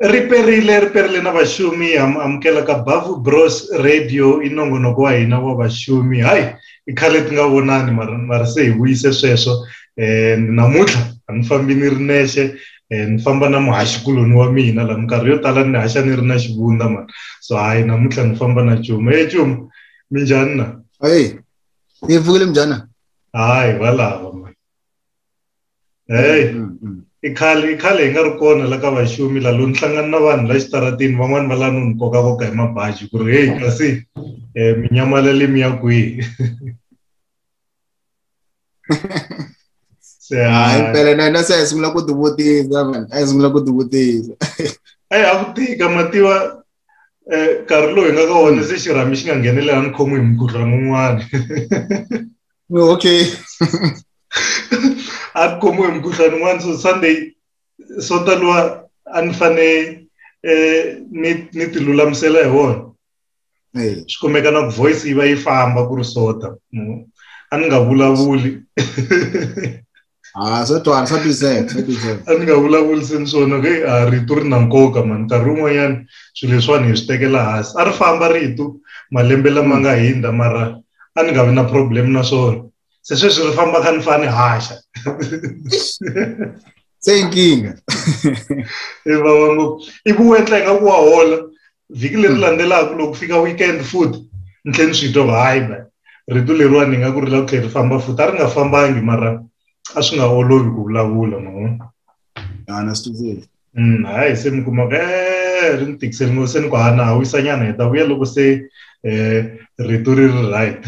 riperile riperile na vaxumi amukela ka bavu bros radio i nongonoko wa hina wa vaxumi hayi i khale ti nga vonani mara se hi vuyise sweswo um namuntlha a ni fambi ni ri nexe um ni famba na muhaxikuloni wa mina laha minkarhi yo tala ni haxa ni ri na xivundza mani so hayi namuntlha ni famba na cuma e cuma minjhani na hayi ni pfukile minjhani hayi valava heyi mm, mm. i khale i khale hi nga ri kona la ka vaxumi la loni hlangana na vanhu la xitaratini van'wani va la noni kokakoka hi mabaji ku ri heyi kasi um minyamaleli mi ya kwihi hayi mpela na hina se hi sungula ku tivutisa man a hi sungula ku tivutisa eyi a ku tika mativa um nkarhi lowu hi nga ka wona se xirhami xi nga nghenelelani khomi hi mukhuhlwana un'wana No, okay. a ku khomiwe mukhuhlwani un'wana so sunday so taliwa a ni fane eh, ni ni ti lulamisela hi wona swi kumeka na ku voice yi va yi famba ku ri sota a ni nga vulavuli ha swa twala swa twiseka swa twiseka a ni nga vulavuriseni swona ke a rito ri na nkoka mani nkarhi wun'wanyana swilo leswiwani hi swi tekela hansi a ri famba rito malembe lama nga hindza mara a ni nga vi na problem na swona se sweswi ri famba kha ni fa ni haxa se inkinga i vava ngopfu i ku wetla ingaku wa hola vhiki leri hmm. landzelaka loko fika weekend futhi ni tlhela ni swi twa hayi man rito leriwa ni nga ku ri la ku tlhela ri famba futhi a ri nga fambangi mara a swi nga olovi ku vulavula mavona anastuzeli hmm, hayi se mi kuma e ri ni tikiseli ngo se ni ku hana ha wisanyana hi ta vuya loko se um rito ri ri right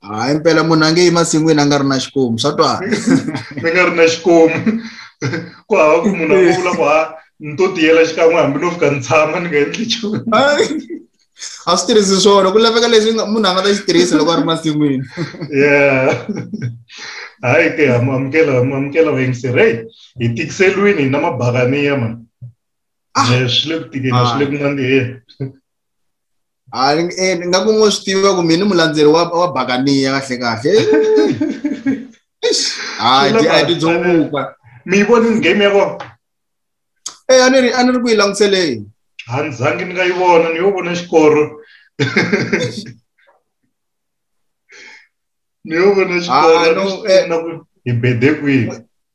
hayi mpela munhu a nge yi masin'wini a nga ri na xikomu swa twana a nga ri na xikomu ku hava ku munhu a nga vula ku ha ni to tiyela xikan'we hambi no fika ni tshama ni nga endli nchumu a swi tirhisi swona ku laveka leswi munhu a nga ta xi tirhisa loko a ri masin'wini yeah hayi ke amukela amukela vayingiseri heyi hi tikiseliwini hi na mabakaniya mani ah. swi le ku tikeni swi le ku nandziheni eh, nga ku ngo swi tiva ku mina mulandzeri wa wa bakaniya kahle kahle hayi ti a ti dzunguka mi voni game ya kona eh a ni ri a ni ri ku yi languseleni a ni zangi ni nga yi vona ni yo vona xikoro ni yo vona xikoro ah, eh. na ku hi bede kwihi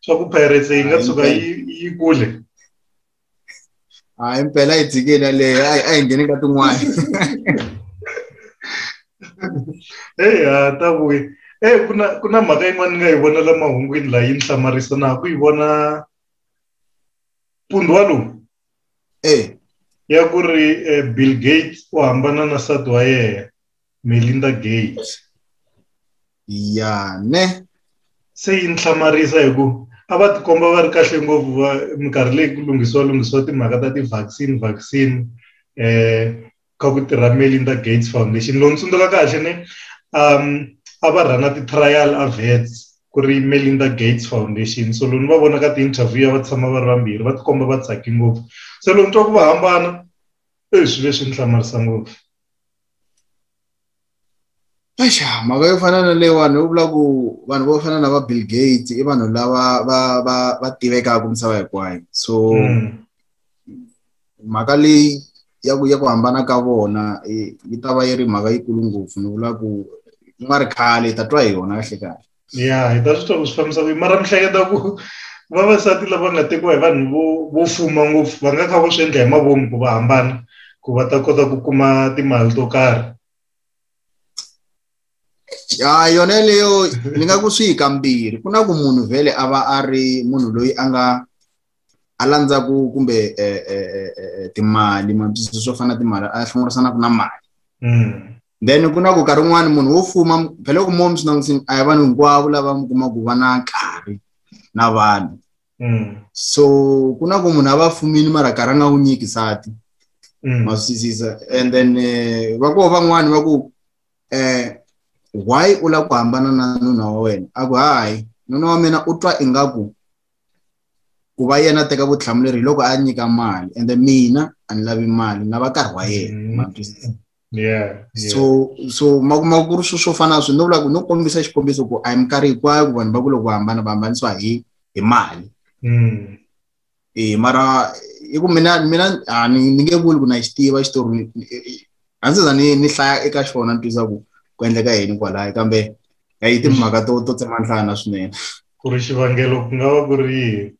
swa ku pirates yi nga tshuka yi yi kule hayi mpela yi dzikile yaleyo a yi ngheni ka tin'wana eyi ha ta vuyi e ku na ku na mhaka yin'wana ni nga yi vona la mahungwini laha yi ni hlamarisa na ku yi vona pundhwa lowu e ya ku ri eh, bill gates u hambana na nsati wa yena Melinda Gates ya ne se yi ni hlamarisa hi ku a va tikomba va ri kahle ngopfu va minkarhi leyi ku lunghisiwa lunghisiwa timhaka ta ti-vaccine vaccine eh ka ku tirha Melinda Gates Foundation lowu ni tsundzuka kahle ni um a va rhana ti-trial avets ku ri Melinda Gates Foundation so loko ni va vona ka ti-interview ya va tshama va ri vambirhi va tikomba va tsake ngopfu se loko ni twa ku va hambana e swilo leswi ni hlamarisa ngopfu Axa mhaka yo fana na leyiwani yo vula ku vanhu vo fana na va Bill Gates i vanhu lava va va va tivekaka misava hinkwayo so mm. mhaka leyi ya ku ya ku hambana ka vona yi ta va yi ri mhaka yikulu ngopfu ni vula ku ku nga ri khale hi ta twa hi yona kahle kahle ya hi ta swi tiva ku swi fambisa ku mara mi hleketa ku vavasati lava nga tekiwa hi vanhu vo vo fuma ngopfu va nga kha va swi endla hi mavomu ku va hambana ku va ta kota ku kuma timali to karhi ya yona leyo ni nga ku swi hi kambirhi ku na ku munhu vhele a va a ri munhu loyi a nga a landza ku kumbe eh, eh, eh, timali matwisisi swo fana na timali a hlongorisanaka na mali mm. then ku na ku karhi un'wana munhu wo fuma phele loko momi swi langutini a hi vanhu hinkwavo lava mi kuma ku va na nkarhi na vanhu mm. so ku na ku munhu a va fumini mara karhi a nga wu nyiki sati mm. maswisisa and then va koho van'wani va ku um why u lava ku hambana na nuna wa wena a ku hayi nuna wa mina u twa ingaku ku va yena a teka vutihlamuleri hi loko a nyika mali ende mina a ni lavi mali na va karhi wa yena mm-hmm. matwisisa Yeah, yeah. so so makumakuru swo swo fana swi no vula ku no kombisa xikombiso ku a hi minkarhi hinkwayo ku vanhu va ku loko va hambana va hambanisiwa hi hi mali mm. e mara i ku mina mina a ni ni nge vuli ku na xi tiva xitori a ndzi za ni ni hlaya eka xona ni twisa ku ku endleka yini kwalaya kambe a yi timhaka to to tsema nhlana swinene ku ri xivangelo ku nga va ku ri yini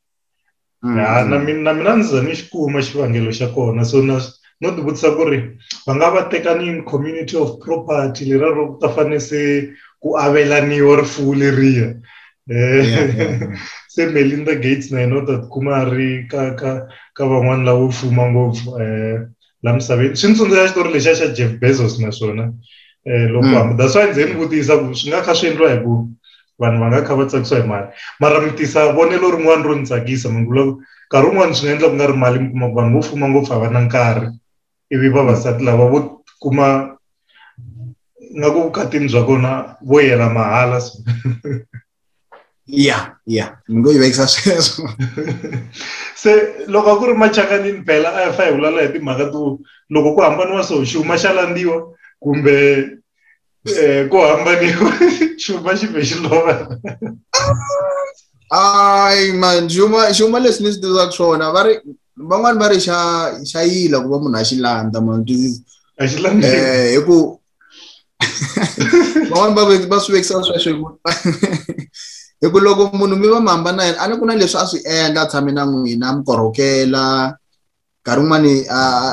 mm. ya na mina na mina ndzi za ni xi kuma xivangelo xa kona so na no ti vutisa ku ri va nga va tekanini community of property lera ro ku ta fane se ku avelaniwa rifuwo leriya um se melinda gates na yena u ta tikuma a ri ka ka ka van'wani lavo fuma ngopfu um la misaveni swi ni tsundzuxa xitori lexiya xa jeff bezos na swona um loko mm. hamba that's why ndzi ni vutisa ku swi nga kha swi endliwa hi ku vanhu va nga kha va tsakisiwa hi mali mara mi tisa vonelo rin'wana ro ni tsakisa mi vula ku nkarhi wun'wani swi nga endla ku nga ri mali mi kuma ku vanhu vo fuma ngopfu a va na nkarhi ivi vavasati lava vo kuma nga ku vukatini bya kona vo yela mahala so ya ya ni ngo yi vekisa sweswo se loko a ku ri machakanini phela a ya fa hi vulala hi timhaka to loko ku hambaniwa so xuma xa landziwa kumbe eh, ku hambaniwa xuma xi ve xi lova hayi man xuma xuma leswi ni swi tivaka swona va ri van'wani va ri xa xa yila ku va munhu a xi landza man twisisa a xi landza eh, hi ku van'wani va va swi vekisa sweswo hi ku loko munhu mi va mi hambana yena a ni ku na leswi a swi endla a tshame na n'wina a mi korhokela nkarhi wun'wani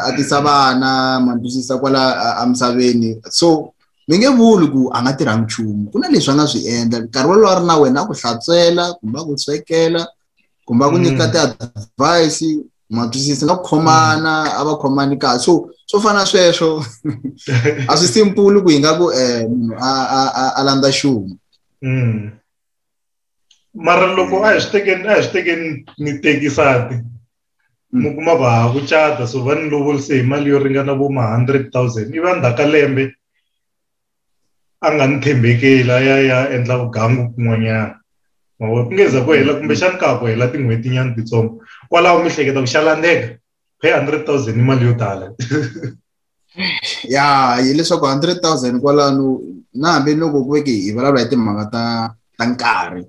a tisa vana ma twisisa kwala emisaveni so mi nge vuli ku a nga tirhangi nchumu ku na leswi a nga swi endla nkarhi wolowo a ri na wena a ku hlantswela kumbe a ku swekela kumbe a ku nyika mm. ti-advice ma twisisa nga khomana mm. a va khomani kahle so swo fana sweswo a swi simple ku hi nga ku um munhu a a a landza xuma mm. mara loko a hi swi tekeni a hi swi tekeni ni tekisati mm. mi kuma va ha ku cata so va ni lovorise hi mali yo ringana vo ma hundred thousand ivi a ndzhaku ka lembe a nga ni tshembekeli a ya ya endla vugangu kun'wanyana mavona ku ngeza ku hela kumbexani ka ha ku hela tin'hweti nyana titsongo kwalaho mi hleketa ku xa landzeka pay hundred thousand i mali yo tala ya hileswaku hundred thousand kwalano na hambi loko ku veke hi vulavula hi timhaka ta ta nkarhi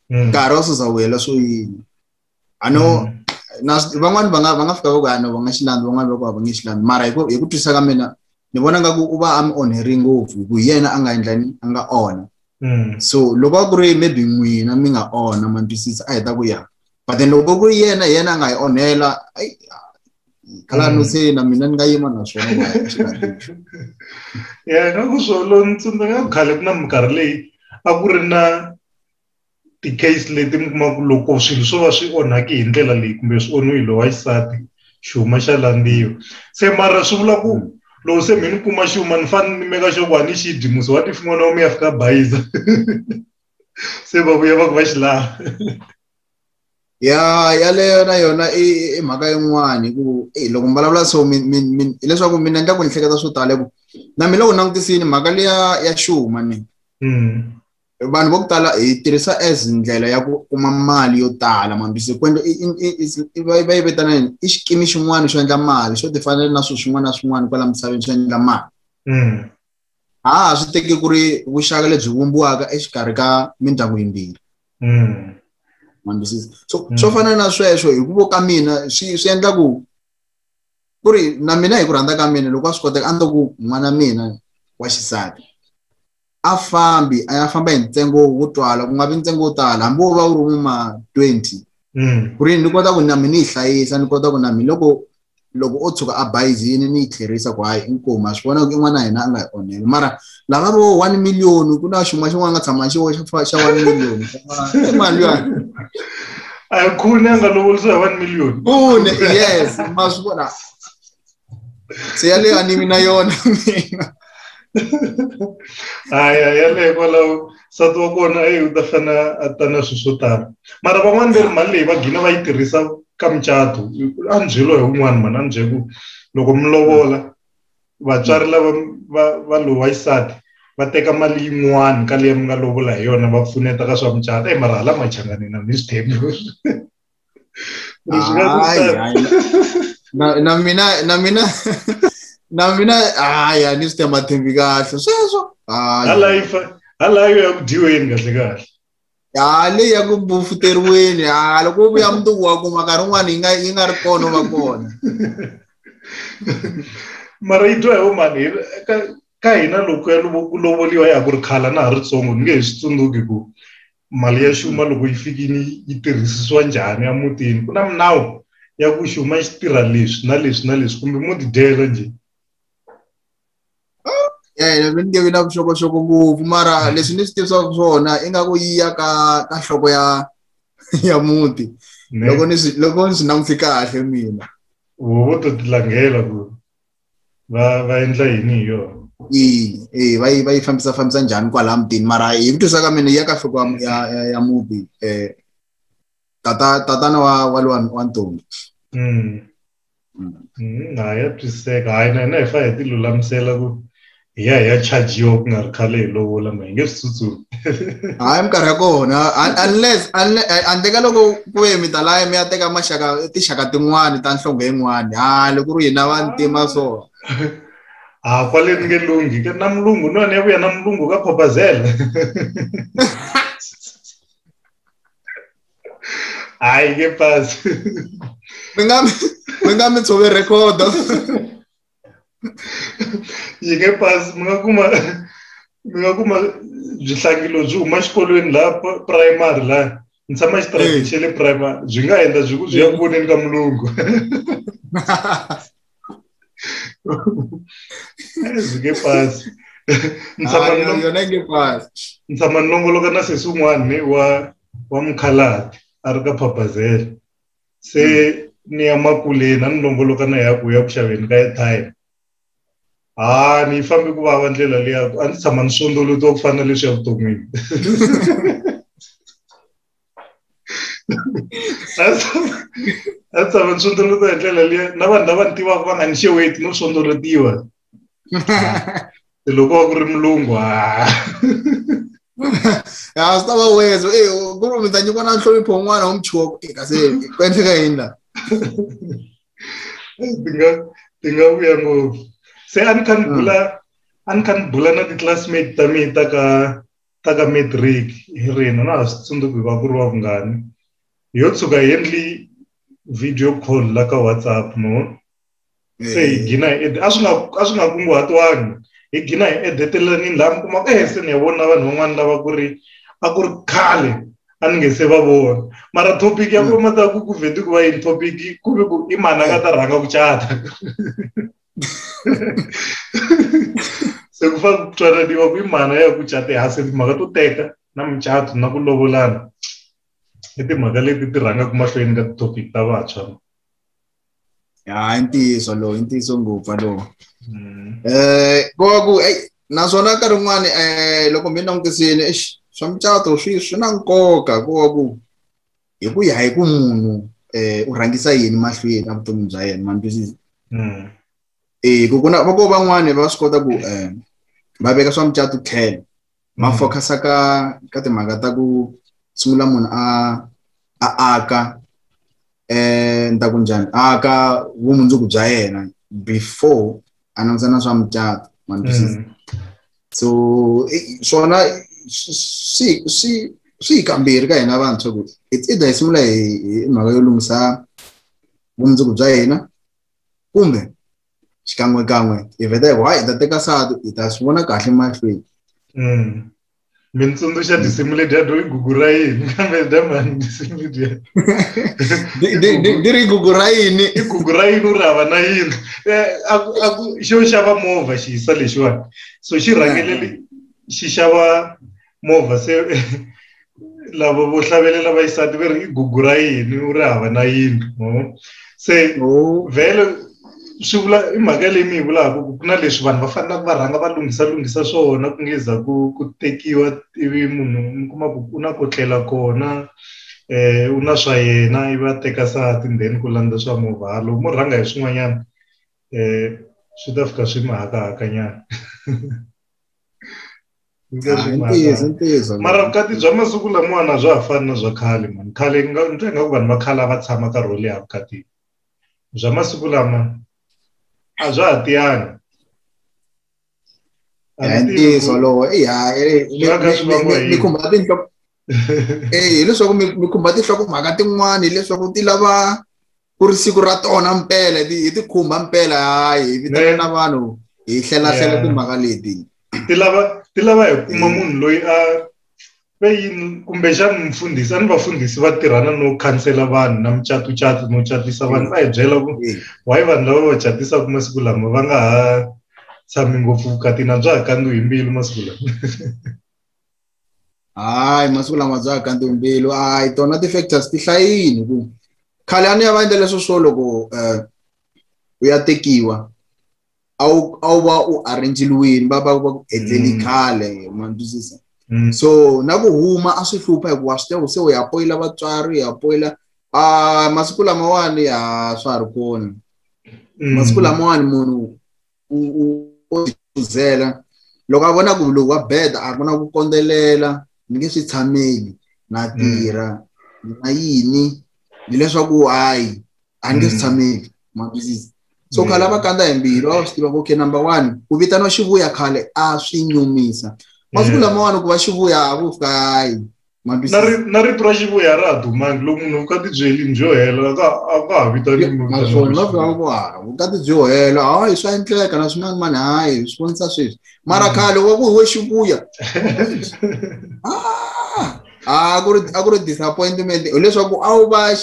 hmm. nkarhi wa suza wu hela swo yini ano mm. van'wani va nga va nga fika va ku ano va nga xilandzi van'wani va ku va nge xilandzi mara hi ku hi ku twisisa ka mina ni vona nga ku u va a mi onheri ngopfu hi ku yena a nga endlani a nga ona mm. so loko a ku ri maybe n'wina mi nga ona ma twisisa a hi ta ku ya but then loko ku ri yena yena a nga hi onhela kala no mm. se na mina ni nga yima na swona ya ka ku swolo ni tsundzuka khale ku na minkarhi leyi a ku ri na ti-case leti mi kuma ku loko swilo swo va swi onhaki hi ndlela leyi kumbe swi onhiwe hi lowa xisati xihuma xa landziwa se mara swi vula ku hmm. loko se mi ni kuma xuma ni fanele ni meka xo ku a ni xi dyi musi wa tifin'wana wa mi ya fika bayiza se va vuya va ku va xi lava ya yaleyo na yona i mhaka yin'wani ku e loko mi vulavula so hileswaku mina endla ku ni hleketa swo tala ku na mina loko langutisini mhaka leya ya xuma ni hmm. vanhu vo ku tala hi tirhisa as ndlela ya ku kuma mali yo tala mambisi kwendlo va yi vitana yini i xikimi xin'wana xo endla mali xo tifanele na swilo swin'wana na swin'wana kwala misaveni xo endla mali mm. ha ha swi teki ku ri vuxaka lebyi vumbiwaka exikarhi ka mindyangu yimbirhi mm. mambisisi so mm. swo fana na sweswo hi ku vo ka mina swi swi endla ku ku ri na mina hi ku rhandza ka mina loko a swi koteka a ni to ku n'wana mina wa xisati a fambi a ya famba hi ntsengo wo twala ku nga vi ntsengo wo tala hambi wo va wu ri wuma twenty mm. ku ri ni kota ku na mi ni yi hlayisa ni kota ku na mi loko loko o tshuka a bayizini ni yi tlherisa ku hayi inkomu a swi vona ku in'wana hina a nga hi onheli mara lava vo one million ku na xin'wana xin'wana nga tshama xi xa one million i mali ya a yi khuni a nga lovolisa hi one million khuni yes ma swi vona se yaleyo a ni vi na yona mina haya yaleyo kwalaho nsati wa kona eyi u ta fana a ta na swilo swo tala mara van'wani ve ri mali leyi va gina va yi tirhisa ka mucato a ni byelo hi un'wani mani a ni bye ku loko mi lovola vatswari lava va va lowa xisati va teka mali yin'wani ka leyi mi nga lovola hi yona va pfuneta ka swa mucato eyi mara hala machanganina ni swi thembi Deixa ai, na, na mina na mina na mina hayi a ni swi tema thembi kahle sweswo halayifa halayo ya ku dyiweni kahle kahle ha leyi ya ku bufuteriweni ha loko u vuya mundzuku wa kuma nkarhi wun'wana yi nga yi nga ri kona va kona mara yi twa hi vomani ka hina loko ya ku lovoliwa ya ku ri khala na ha ri tsongo ni nge hi swi tsundzuki ku mali ya xuma loko yi fikini yi tirhisisiwa njhani emutini ku na minawu ya ku xuma xi tirha leswi na leswi na leswi kumbe mo tidyela njhe um ni nge vi na vuxokoxoko ngopfu mara hmm. leswi ni swi tivisaka swona ingaku yi ya ka ka nhloko ya ya muti loko ni swi loko ni swi langute kahle mina vo to tilangela ku va va endla yini hi yona ina e va yi va yi fambisa fambisa njhani kwala mutini mara hi ku twisa ka mina ya ka nhloko ya ya muti um tata tatana wa wa lowa wa ntombi mm. mm. mm. ha ya twisiseka hayi na hina hi fa hi ti lulamisela ku hi ya hi ya chajiwa ku nga ri khale hi lovola ma hi nge swi tsutsumi hayi minkarhi ya kona unless handle ka loko ku ye mi ta laya mi ya teka maxaka tinxaka tin'wani ta nhlonge yin'wani ha loko ri hina vantima so ha kwale ni nge lunghi na mulungu ni wena ya vuya na mulungu ka khobazela hayi ke pasi mi nga mi nga mi tshove rhekhodo yi nge pasi mi nga kuma mi nga kuma byi hlangilo byi huma xikolweni laha primary laha ni tshama xitarati xa le primary byi nga endla byi ku byi ya voneni ka mulungu byi nge pasi ni tshama ni longoloka na sesi un'wana wa wa mukhalati a ri ka phabazela se hmm. ni ya makuleni a ni longoloka na ya ku ya ku xaveni ka airtime ha ni fambe ku vava ndlela leya a ndzi tshama ni swondolutiwa ku fana na leswi ya vuton'wini a tshama ni swondolutiwa hi ndlela leya na vanhu lava ni tivaka va nga ni xeweti no swondolotiwa loko ku ri mulungu ha ya swi ta va weza e ku ri mi ta nyikiwa na nhlonipho un'wana wa muchiwa ku eka se ku endleka yini la ti nga ti nga vuya ngopfu se a ni kha ni bula a ni kha ni bula na ti-classmate ta mina ta ka ta ka matric hi rina na ha swi tsundzuki va ku ri wa vungani yo tshuka hi endli video call la ka whatsapp no se hi eh. gina hi a swi nga a swi nga kunguhatiwangi hi gina hi edetelelani laha mi kumaka ehe se ni ya vona vanhu van'wana lava ku ri a ku ri khale a ni nge se va vona mara topic ya ku mm. mata ku ku vheti ku va yini topic ku ve ku i mani a nga ta rhanga ku cata se ku fane ku twananiwa ku i mani ya ku cate ha se timhaka to teka na mucato na ku lovolana i timhaka leti ti rhangaka mahlweni ka ti-topic ta vantshwa ya i ntiyiso lowu i ntiyiso ngopfu lowu um koku eyi naswona nkarhi wun'wani um loko mi langutisile exi swa mucato swi swi na nkoka ku va ku hi ku ya hi ku munhu um u rhangisa yini mahlweni a vutomi bya yena ma ntwisisa hmm. e ku ku na va ko van'wani va swi kota ku um va veka swa mucato tlhelo ma mm. focus-a ka ka timhaka ta ku sungula munhu a a aka eh ni ta ku njhani a ka vumundzuku bya yena before a langusa na swa mucato mm. so eh, swona swi swi swi kambirhi ka hina vantshwa ku it's either hi sungula hi mhaka yo lunghisa vumundzuku bya hina kumbe xikan'wekan'we hi vheta hi ku hayi hi ta teka satu hi ta swi vona kahle mahlweni mm. mi ni tsundzuxa tinsimu leti ya doi gugu ra yini kambe damani tinsimu letiya ni ri gugu ra yini i gugu ra yini u ri hava na yini eh, xo xava movha xi yisa lexiwani so xi rhangelele xi xava movha se lava vo hlavelela vaxisati va ri i gugu ra yini u ri hava na yindlu no se oh. vhele swi vula i mhaka leyi mi yi vulaka ku ku na leswi vanhu va fanelaka va rhanga va lunghisa lunghisa swona ku nge za ku ku tekiwa ivi munhu mi kuma ku u na ku tlela kona um u na swa yena i va teka sati then ku landza swa movhalo mo rhanga hi swin'wanyana um swi ta fika swi mi hakahakanyana ntiyiso ntiyiso mara vukati bya masiku lamawani a bya ha fani na bya khale mani khale ni twa ingaku vanhu va khale a va tshama nkarhi wo leha vukatini bya masiku lama a bya ha tiyani ntiyiso lowo i ha ni khumba tinhloko eh leswaku mi mi khumba tinhloko mhaka tin'wana hileswaku ti lava ku ri siku ra tona mpela hi ti khumba mpela hayi hi vitana na vanhu hi hlela hlela timhaka leti ti lava ti lava hi kuma eh. munhu loyi a ve yini kumbexana mufundhisi a ni vafundhisi va tirhana no khansela vanhu na mucatucatu no catisa vanhu va hi byela ku eh. why vanhu lava va catisaka masiku lama va nga ha tshami ngopfu vukati na bya ha kandziwi hi mbilu masiku lama hayi masiku lama bya ha kandziwi mbilu hayi tona ti-factors ti hlayini ku khale a ni ya va endla leswo swo loko um u ya tekiwa a wu a wu va u arrange-liwini va va va ku endleli mm. khale ma ni twisisa mm. so na ku huma a swi hlupha hikuva swi tiva ku se u ya poyila vatswari u ya poyila a masiku lamawani ya swa ha ri kona mm. masiku lamawani munhu u u u chuzela loko a vona ku lowu wa bed a ku na ku kondzelela ni nge swi tshameli na mm. tirha na yini hileswaku hayi a ni nge swi mm. tshameli maphilisi so khale a va kandza hi mbilu a va swi tiva ku okay number one ku vitaniwa xivuya khale a swi nyumisa masiku lamawani ku va xivuya a ku fika hayi na rito ra xivuya ra ha dumangi loko munhu u ka tibyelini byo hela ka a ka ha vitaniwi naswona na vangwara u ka tibyo hela hayi swa endleka na swin'wana mani hayi swi vonisa sweswi mara mm. khale wa ku hi we xivuya ah! a ku ri a ku ri disappointment hileswaku a wu va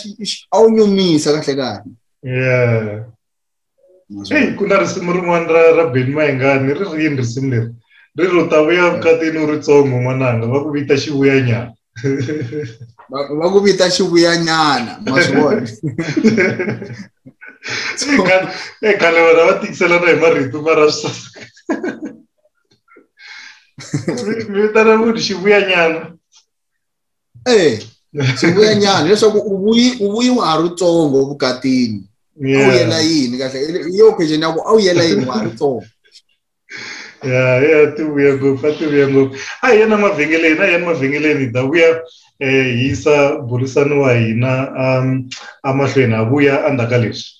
a wu nyumisa kahle kahle yeah eyi ku na risimu rin'wana ra ra beni mayengani ri rini risimu leri ri ri u ta vuya vukatini u ri tsongo n'wananga va ku vita xivuyanyana va ku vita xivuyanyana ma swi vona e khale vona va tikiselana hi marito ma ra swisasaka mi vitana munhu xivuyanyana eh swi vuya nyana leswaku u vuyi u vuyi wa ha ri tsongo vukatini a wu yela yini kahle hi yo question ya ku a wu yela yini wa ha ri tsongo ya ya ti vuya ngopfu a ti vuya ngopfu a hi yena mavhengeleni a hi yena mavhengeleni hi ta vuya um hi yisa burisani wa hina um emahlweni ha vuya endzhaku ka leswi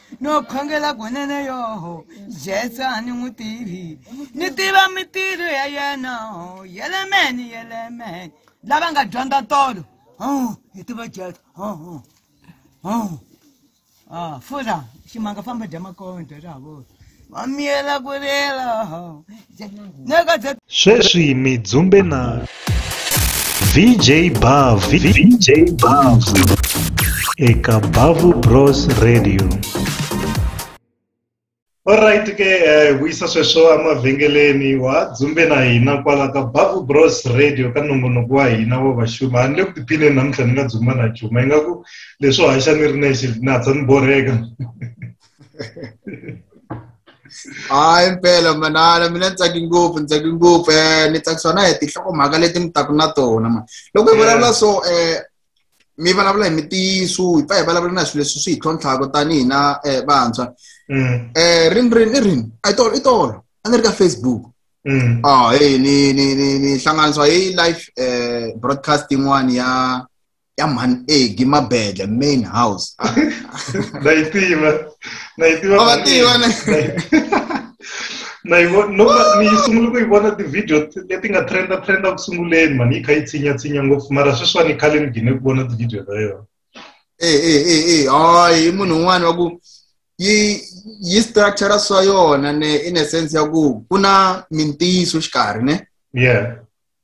no khongela kunene yoho jesu a ni n'wi tivi ni tiva mitirho ya yena yelemeni yelemeni lava nga dyondza tolo hi tiva jesu fura ximanga famba dya makonde ra vona va miyela ku lela neka bya sweswi mi dzumbe na vj bav vj bav eka bavu bros radio Alright ke eh, vuyisa sweswo emavhengeleni wa dzumbe na hina kwala ka Bavu Bros Radio ka nongonoko wa hina wa vaxuma a ni le ku tiphineni namuntlha ni nga dzumba na chuma ingaku leswo haxa ni ri nexe na hatsa ni borheka hayi mpela manana mina ni tsake ngopfu ni tsake ngopfu um eh, ni tsakisiwa na hi tinhlokomhaka leti mi taku na tona ma loko hi vulavula so um mi vulavula hi mitiyiso hi pfa hi vulavula na swilo leswi swi hi tlhontlhaka tanihi na um vantshwa um rini rini i rini a i tolo i tolo a ni ri ka facebook Mm. Ah, hey, ni ni ni ni hlanganiswa hi live eh broadcast yin'wana ya ya mhani egi mabedla main house na yi tiva na yi tiva va tiva na na yi vona ni yi sungule ku yi vona ti-video leti nga trenda trenda ku sunguleni mani yi kha yi tshinya tshinya ngopfu mara sweswiwani yi khale ni gine ku vona ti-video ta yona e e e e hayi i munhu un'wana wa ku yi yi structure swa yona ne in a sense ya ku ku na mintiyiso xikarhi ne yeah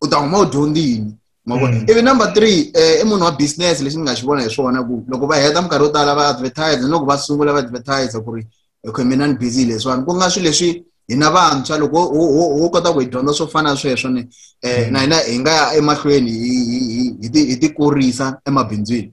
u ta huma u dyondze yini ma vona mm. ivi number three eh, i munhu wa business lexi ni nga xi vona hi swona ku loko va heta minkarhi yo tala va advertise ni loko va sungula va advertise ku ri okay mina ni busy leswiwani ku nga swilo leswi hina vantshwa loko ho kota ku hi dyondza swo fana sweswo ni um na hina hi nga ya emahlweni hi ti kurisa emabindzwini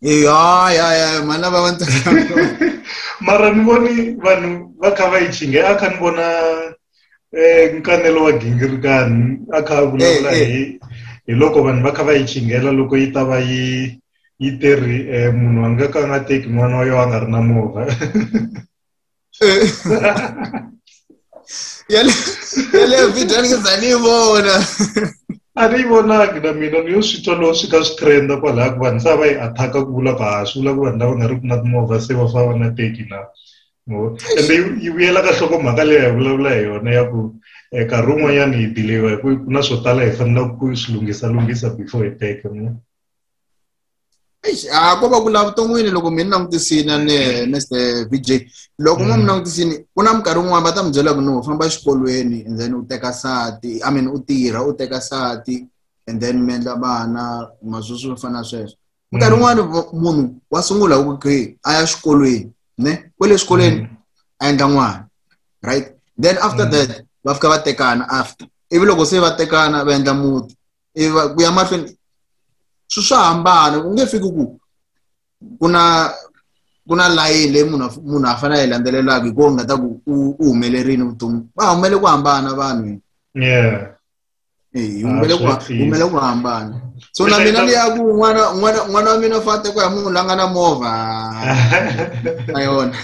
ya mhana va va mara ni voni vanhu va kha va yi chinge a kha ni vona um nkanelo wa gingirikani a kha a vulavula eh, eh. hi hi loko vanhu va kha va yi chingela loko yi ta va yi yi teri um munhu a nga ka a nga teki n'wana wa yo a nga ri na movha ya le ya le video ni za ni vona a ni vonaki na mina ni yo swi twa lowo swi ka swi trenda kwalaha ku vanhu sa va yi athaka ku vula ku ha swi vula ku vanhu lava nga ri ku na timovha se va fava na teki na ende yi vuyela ka hloko mhaka leyi hi vulavula hi yona ya ku um nkarhi wun'wanyana hi dileyiwa hi ku ku na swo tala hi fanelaka ku swi lunghisalunghisa before hi teke mo Eish, a ko va ku la vuton'wini loko mi ni langutisini a ni Mr VJ loko mo mi langutisini ku na minkarhi yin'wana va ta mi byela ku no famba exikolweni and then u teka sati i mean u tirha u teka sati and then mi endla vana maswi swi fana sweswo minkarhi yin'wana vo- munhu wa sungula hi ku okay a ya xikolweni ne kwele xikolweni a endla n'wana right then after that va fika va tekana after ivi loko se va tekana va endla muti i va ku ya mahlweni swi swa hambana ku nge fiki ku ku na ku na layini leyi munhu munhu a fanele a yi landzelelaka hikuva nga ta ku u humelerile vutomi va humele ku hambana vanhu yeah humele ku humele ku hambana so na mina ni ya ku n'wana n'wana n'wana wa mina fate ku ya munhu la nga na movha na yona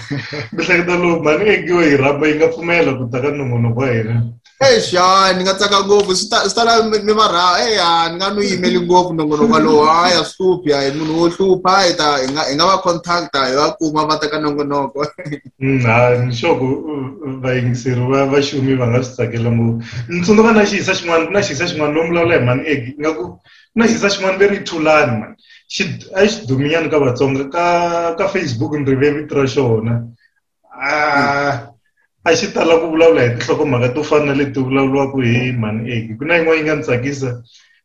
mihleketa lowu mhani ngekiwe yi rhamba yi nga pfumela ku ta ka nongonoko wa hina eish hayi ni nga tsaka ngopfu swi ta swi ta la mi mi va ra hey ha ni nga n'wi yimeli ngopfu nongonoko walowo hayi a swi hluphi hayi munhu wo hlupha hi ta hi nga hi nga va contact hi va kuma va teka nongonoko Mm, ha ni sure ku uh, vayingiseri va va xumi va nga swi tsakela ngopfu ni tsundzuka na xiyisa xin'wana ku na xiyisa xin'wana lomu vulavula hi mani egi nga ku ku na xiyisa xin'wana ve ri thulani mani xi a xi duminyana ka vatsonga ka ka facebook ni rive vito ra xona ah, a xi tala ku vulavula hi tinhlokomhaka to fana na leti vulavuriwaka hi mhani eki ku na yin'wana yi nga ni tsakisa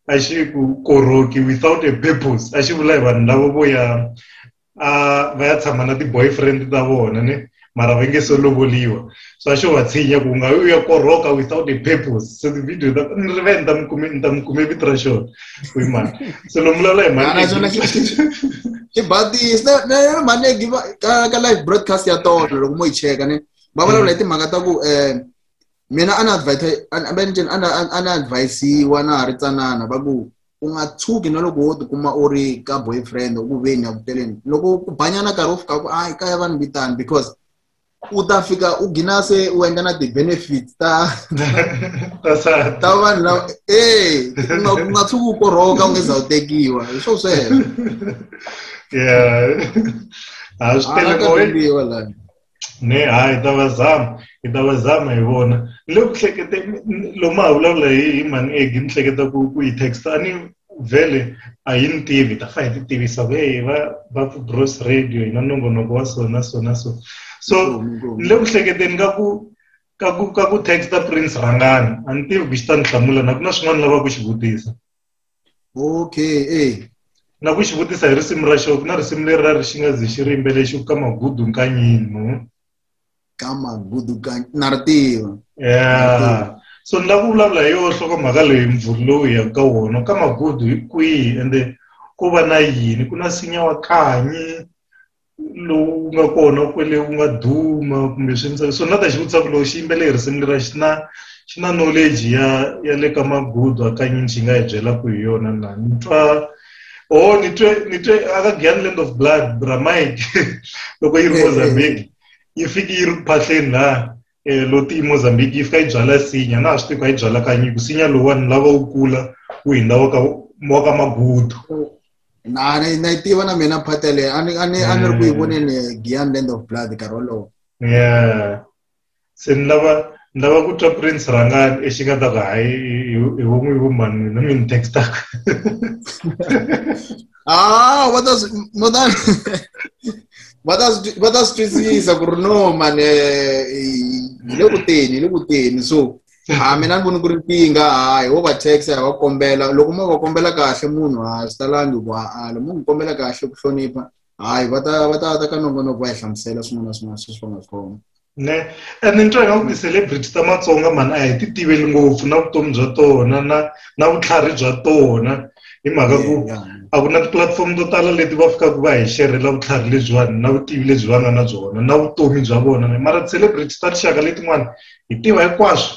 a xi ku koroki without a purpose a xi vula hi vanhu lavo vo ya a va ya tshama na ti-boyfriend ta vona ne mara va nge se lovoliwa so a xo va tshinya ku nga u ya koroka without a purpose so ti-video ta ni ri ve ni ta mi kume ni ta mi kume vito ra xona Fui mal. So no mula lai man. Ana jona ki ki baat di is na na na mane ki ka ka live broadcast ya to ro mo iche ka ne. Ba mala lai te magata ku eh mena ana advise ana benjen ana ana advise wa na ri tsanana ba ku u nga tshuki na loko wo tikuma u ri ka boyfriend u ku veni ya ku teleni loko ku banyana nkarhi wo fika ku ai kaya vanhu vitani because u ta fika u gina se u endla na ti-benefits ta ta vanhu lava e u nga tshuki u korhoka u nge za u tekiwa hi swo sweswo yeah a swi telekoiwa la ne hayi ta va zama hi ta va zama hi vona le ku hlekete lomu ha vulavula hi hi mhani egi ni hleketa ku ku yi texta ni vhele a hi ni tivi ta fa hi ti tivisa ve va va ku gross radio hi na nongonoko wa so na so na so so ni le ku hleketeni ka ku ka ku ka ku texta prince rhangani a ni tivi ku xi ta ni hlamula na ku na swin'wana ni lava ku xi vutisa okay e na ku xi vutisa hi risimu ra xo ku na risimu leri ra ri xi nga ze xi ri yimbele xi ku ka magudu nkanyini no ka magudukanyi na ri tiva yeah. so ni lava ku vulavula hi yoho nhlokomhaka leyi mvuri lowu hi yaka ka wona ka magudu hi kwihi ende ku va na yini ku na sinya wa kanyi lowu nga kona kwele wu nga duma kumbe swi ndza so na ta xi vutisa ku loko xi yimbele hi risimu lera xi na xi na knowledge ya ya le ka magudu hakanyini xi nga hi byela ku hi yona na ni twa oh ni twe ni twe aka gyan land of blood bra mike loko yi ri mozambique yi fiki yi ri ku phahleni la eh, loti mozambique yi fika yi byala sinya na ha swi tivi ka yi byala ka nyiko sinya lowani lava wu kula wu hindza wa ka wa ka magudu na ni na yi tiva na mina phata leyi a ni a ni a ni ri ku yi eh. voneni giyan land of blood nkarhi wolowo yeah se ni lava ni lava ku twa prince rhangani exi nga ta ku hayi hi vo n'wi vo mani mina mi ni textaka ah va ta va ta va ta va ta swi twisisa ku ri no mani eh, hi le ku teni hi le ku teni so ha ah, mina ni voni ku ri nkingha hayi wo va tax ha va kombela loko mo va kombela kahle munhu ha swi talangi ku ha-ala mo n'wi kombela kahle ku hlonipha hayi va ta va ta ta ka nongonoko va hi hlamusela swin'wana na swin'wana sweswi va nga swi khoma ne and ni twa ingaku ti-celebrity ta matsonga mani a hi ti tiveli ngopfu na vutomi bya tona na na vutlhari bya tona hi mhaka ku a ku na tipulatifomo to tala leti va fikaka va hi xerhela vutlhari lebyiwani na vutivi lebyi va nga na byona na vutomi bya vona mara ti-celebrity ta tinxaka letin'wana hi tiva hinkwaswo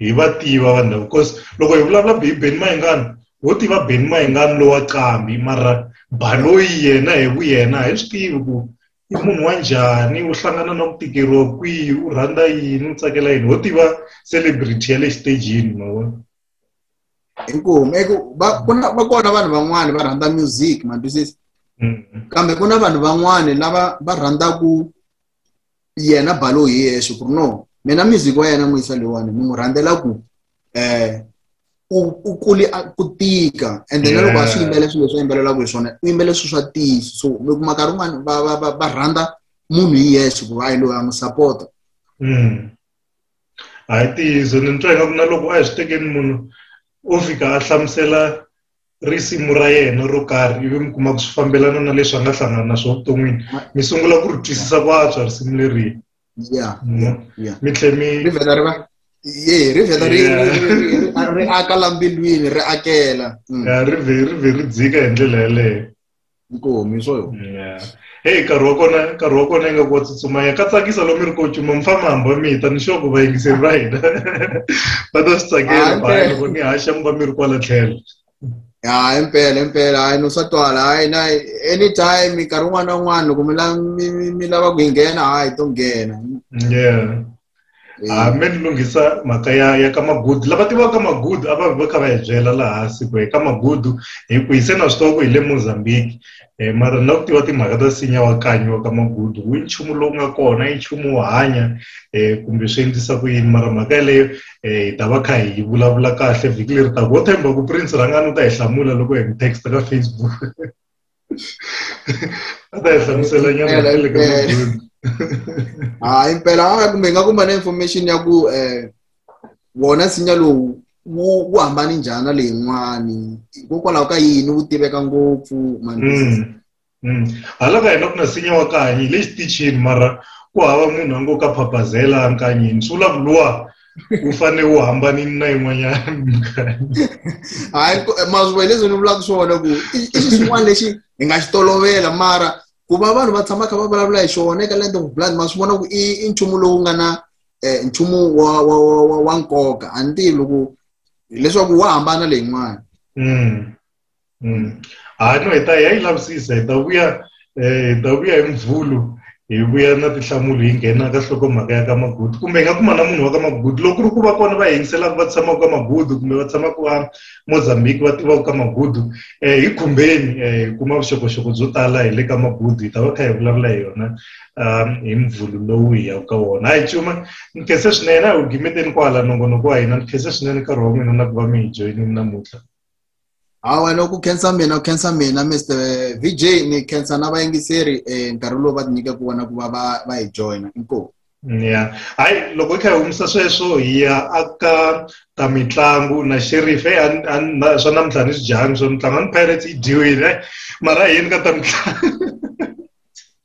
hi va tiva vanhu lava because loko hi vulavula hi beni mayingani wo tiva beni mayingani lowa qambi mara baloyi yena hi vu yena a hi swi tivi ku i munhu wa njhani u hlangana na ku tikeriwa kwihi u rhandza yini u tsakela yini ho tiva celebrity ya le xitejini ma vona inkomu eku va ku na va kona vanhu van'wani va rhandza music ma twisisa mm-hmm. kambe ku na vanhu van'wani lava va rhandzaku yena balo hi yexe ku ri no mina music wa yena n'wisa leyiwani ni n'wi rhandzela ku eh u u kuli a- ku tika and then loko a swi Yeah. yimbele swilo leswi a yimbelelaka hi swona u yimbele swilo swa tiso so mi kuma nkarhi wun'wani va va va va rhandza munhu hi yexe ku va yi loyi a n'wi sapota Mm. hayi tiyiso ni twa ingaku na loko a hi swi tekeni munhu o fika a hlamusela risimu ra yena ro karhi ivi mi kuma ku swi fambelana na leswi a nga hlangana na swona vuton'wini mi sungula ku ri twisisa ku antswa risimu leri ya mi tlhela mi ri vheta ri va ye ri vheta ri ri aka la mbilwini ri akela mm. ri vhe ri vhe ri dzika hi ndlela yeleyo nkomi swo yo heyi nkarhi wa kona nkarhi wa kona ingaku wa tsutsumanya ka tsakisa lomu ri kocuma mi famba hamba mi ta ni xoko vayingiseri va hina va ta swi tsakela baya loko ni haxa mi va mi ri kwala tlhelo ya impela impela hayi no swa twala hayi na anytime nkarhi wun'wana na wun'wana loko mi lava ku yi nghena hayi to nghena yeah Eh. Ah, me ni lunghisa mhaka ya ya ka magudu lava tivaka magudu a va va kha va hi byela laha hansi ku eka magudu hi ku hi se na swi tiva ku hi le mozambique um mara ni lava ku tiva timhaka ta sinya wa kanyi wa ka magudu wu nchumu lowu nga kona i nchumu wo hanya um kumbe swi endlisa ku yini mara mhaka yeleyo um hi ta va kha hi vulavula kahle vhiki leri taka wo themba ku prince rhangani u ta hi hlamula loko hi mi text ka facebook hlamusela nyana le ka hayi mpela kumbe nga kuma na information ya ku um wona nsinya lowu wu wu hambani njhani na leyin'wani hikokwalaho ka yini wu tiveka ngopfu mandizi mm, mm. hala ka hina ku na nsinya wa kanyi le xitichini mara ku hava munhu a ngo ka phapazela nkanyini swi vula ku luwa wu fanele wu hambanile na yin'wanyana minkarhi hayi mazuva hi leswi ni vulaka swona ku i xi xin'wana lexi hi nga xi tolovela mara ku va vanhu va tshama kha va vulavula hi xona eka land of blood ma swi vona ku i i nchumu lowu nga na eh, nchumu wa wa wa wa nkoka a ni tivi loko leswaku wa hambana leyin'wana mm. mm. ha no hi ta ya yi lavisisa hi ta vuya eh, hi ta vuya hi mvhulu hi vuya na tinhlamulo hi nghena ka nhlokomhaka ya ka magudu kumbe hi nga kuma na munhu wa ka magudu loko ku ri ku va kona va yingiselaka va tshamaka ka magudu kumbe va tshamaka va mozambique va tivaka ka magudu um eh, hi khumbeni um hi kuma vuxokoxoko byo tala hi le ka magudu hi ta va kha hi vulavula hi yona um hi mvhulu lowu hi yaka ka wona hayi cuma ni khense swinene a hi wu gimeteni kwala nongonoko wa hina ni khense swinene nkarhi wa n'wina na ku va mi hi joyinini namuntlha hawa loko u khensa mina u khensa mina mr vj ni khensa na vayingiseri um eh, nkarhi lowu va tinyike ku vona ku va va va hi joyina inkomu ya hayi loko hi kha hi humisa sweswo hi ya aka ta mitlangu na sheriff e swa namuntlha ni swi dyanga swa mitlangu a ni pirates yi dyiwile mara yini ka ta mitlangu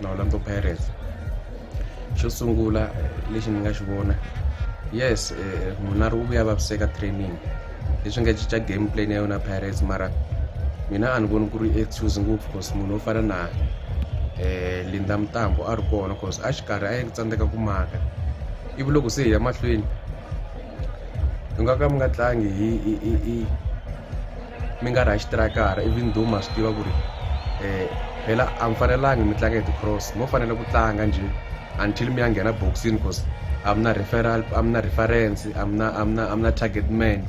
na Orlando Pirates xo sungula lexi ni nga xi vona yes eh, munari wu vuya vaviseka training leswi nga cinca game plan ya yona Pirates mara mina a ni voni ku ri excuse ngopfu cause munhu wo fana na eh Linda Mtambo a ri kona cause a xikarhi a yi tsandzeka ku maka ivi loko se hi ya mahlweni mi nga ka mi nga tlangi hi hi hi hi mi nga ri ha xitirakara ivi ndhuma swi tiva ku ri um phela a mi fanelangi mi tlanga hi ti-cross mo fanele ku tlanga njhe until mi ya nghena boxini because a mi na referal a mi na reference a mi na a mi na a mi na target man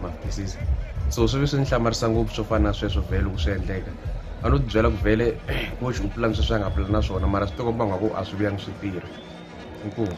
ma twisisa so swi vi swi ni hlamarisa ngopfu swo fana na sweswo vhele loko swi endleka a no tibyela ku vhele coach u pulani sweswi a nga pulani na swona mara swi tikomba ngaku a swi vuyangi swi tirha inkomu